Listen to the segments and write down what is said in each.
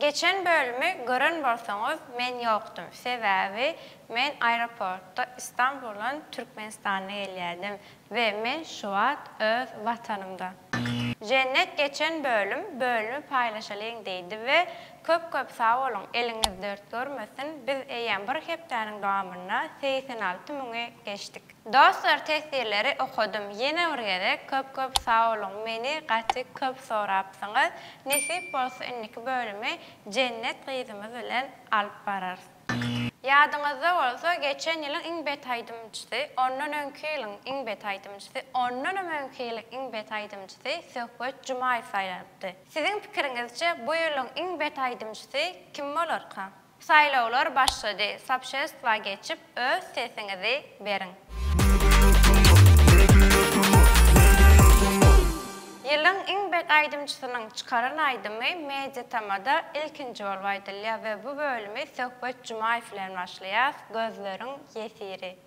Geçen bölümi gören bolsaňyz men ýokdum sebäbi men aeroportda Istanbuldan Türkmenistana gelýärdim we men şuwagt öz watanymda. Jennet geçen bölüm bölümi paýlaşalyň diýdi we köp köp sag boluň eliňiz dert görmesin biz eýýäm bir hepdäniň dowamynda segsen alty müňi geçdik. Dostlar tesirleri okadym ýene bir gezek köp köp sagboluň meni gaty köp sorapsyňyz nesip bolsa indiki bölümi Jennet gyzymyz bilen alyp bararys. Ýadyňyzda bolsa geçen ýylyň iň bet aýdymçysy, ondan öňki ýylyň iň bet aýdymçysy, ondanam öňki ýylyň iň bet aýdymçysy Söhbet Jumaýew saýlanypdy. Siziň pikiriňizçe bu ýylyň iň bet aýdymçysy kim bolarka? Saýlawlar başlady sapşestwa geçip öz sesiňizi beriň. Ýylyň iň bet aýdymçysynyň çykaran aýdymy Media Tamada ilkinji bolup aýdylýar we bu bölümi Söhbet Jumaýew bilen başlaýas Gözleriň ýesiri.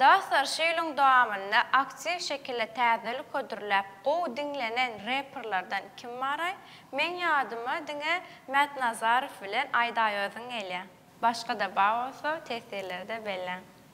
Dostlar şu ýylyň dowamynda aktiw şekilde täzelik hödürläp gowy diňlenen reperlerden kim baraý? Meň ýadyma diňe Mätnazarow bilen Aýdaýozyň gelýä. Başga-da bar bolsa tesirlerde belläň.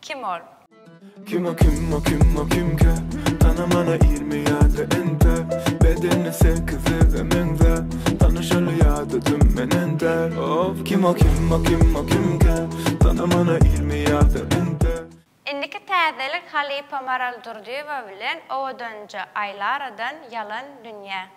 Kim ol? Kim o kim o kim o kimkä Tana mana ýirmi ýa-da entä Bedeni sekizlige meňzä Tanyşaly ýa-da düm menen däl Of kim o kim o kim o kimkä Tana mana ýirmi ýa-da entä Indiki täzelik halypa Maral Durdyýewa bilen Owadanja Aýlaradan Ýalan dünýä.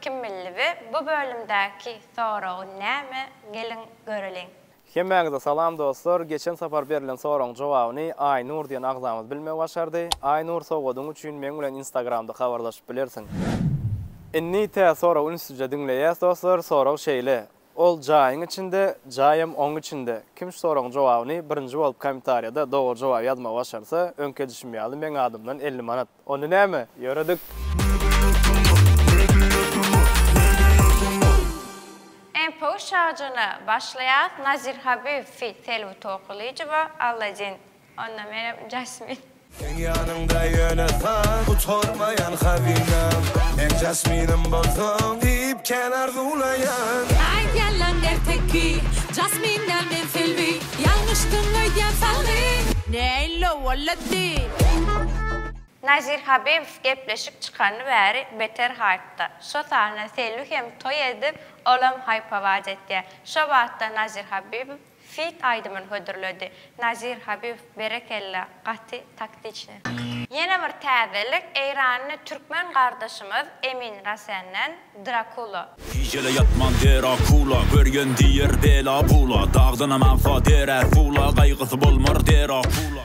Kim bildi we bu bölümdäki soragy näme geliň göreliň. Hemmäňize salam dostlar, geçen sapar berilen soragyň jogabyny Aýnur diýen agzamyz bilmegi başardy. Aýnur sowgadyň üçin meň bilen instagramda habarlaşyp bilersiň. Indi tä sorag ünslice diňleýäs dostlar, sorag şeýle, Ol jaýyň içinde, jaýam oň içinde. Kim şu soragyň jogabyny birinji bolup komentarýada dogry jogap ýazmagy başarsa, öňki edişim ýaly meň adymdan elli manat. Onda näme? Ýöredik! Mpo şajyna başlaýas Nazir Habiv feat Selbi Tokylyjowa Alladin. Onda menem jasmin. Seň ýanyňda ýöne san gutarmaýan hazynam Hem jasminim bolsaň diýip kän arzuwlaýan. Aý ýalan erteki jasmin däl men selbi Ýalňyşdyň öýdýän salgyn Neýle bolady. Nazir Habibow gepleşik çykany bäri beter haýpda. Şo sahna Selbi hem toý edip, olam haýp-hawaç etýär. Şo batda Nazir Habibow. Feat aýdymyny hödürledi. Nazir Habib berekella gaty taktiçny. Ýene bir täzelik eýranly türkmen gardaşymyz Emin Rasenden Drakula. Gijele ýatman der akula, Görýän diýer bela bula, Dagdanam agsa der är pula, Gaýgysy bolmar der akula.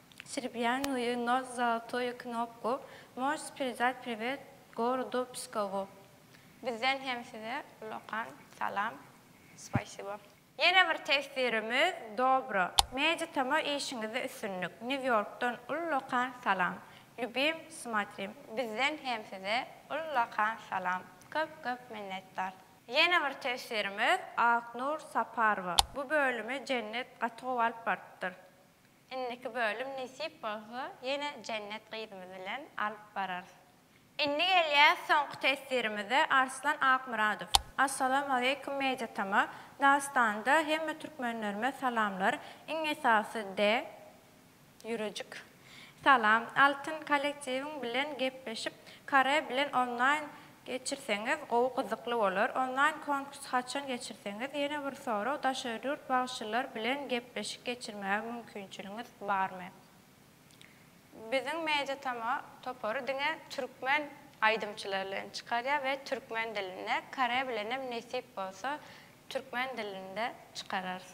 Srebýanýuýu nos zolotoýu knopku, możs perizat priwet gorodu Pskowu. Bizden hem size ullakan salam. Spasibo. Ýene bir teswirimiz Dobro. Media Tama işiňizde üstünlik. New Yorkdan ullakan salam. Lýubim, smatrim. Bizden hem size ullakan salam. Köp köp minnetdar. Ýene bir teswirimiz Aknur Saparowa. Bu bölümi Jennet gaty gowy alyp barypdyr. Indiki bölüm nesip bolsa ýene Jennet gyzymyz bilen alyp bararys. Indi gelýäs soňky teswirimize Arslan Akmyradow. Assalamu aleýkum Media tama Dagystanda hemme türkmenlerime salamlar iň esasy de ýürejik salam Altyn kollektiwiň bilen gepleşip Kare bilen onlaýn Geçirseňiz gowy gyzykly bolar. Onlaýn konkurs haçan geçirseňiz ýene bir sorag daşary ýurt bagşylar bilen gepleşik geçirmäge mümkinçiligiňiz barmy? Biziň media tama topary diňe türkmen aýdymçylary bilen çykarýar we türkmen dilinde, kore bilenem nesip bolsa türkmen dilinde çykararys.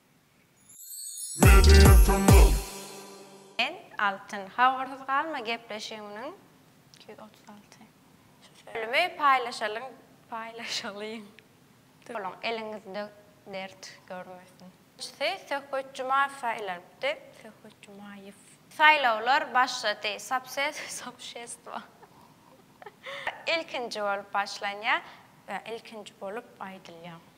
Sen, Altyn, habarsyz galma gepleşigimiň iki ýüz otuz alty nji bölümi paýlaşalyň paýlaşalyň. Boluň, eliňizde dert görmesin. Nji Söhbet Jumaýew saýlanypdy, Söhbet Jumaýew. Saýlawlar başlady, Subses sobşestwo. Ilkinji bolup başlanýar we ilkinji bolup aýdylýar.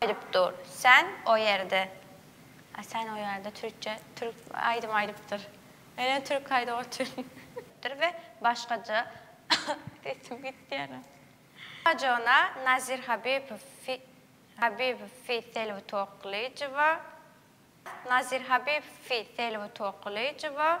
Aýdyp dur sen o ýerde. A sen o ýerde türkçe türk aýdym aýdypdyr. Ene türk aýdyp otur. Dir we başgaça sesim gitdi ýene. Jona Nazir Habibow feat. Habibow feat Selbi Tokylyjowa. Nazir Habibow feat Selbi Tokylyjowa.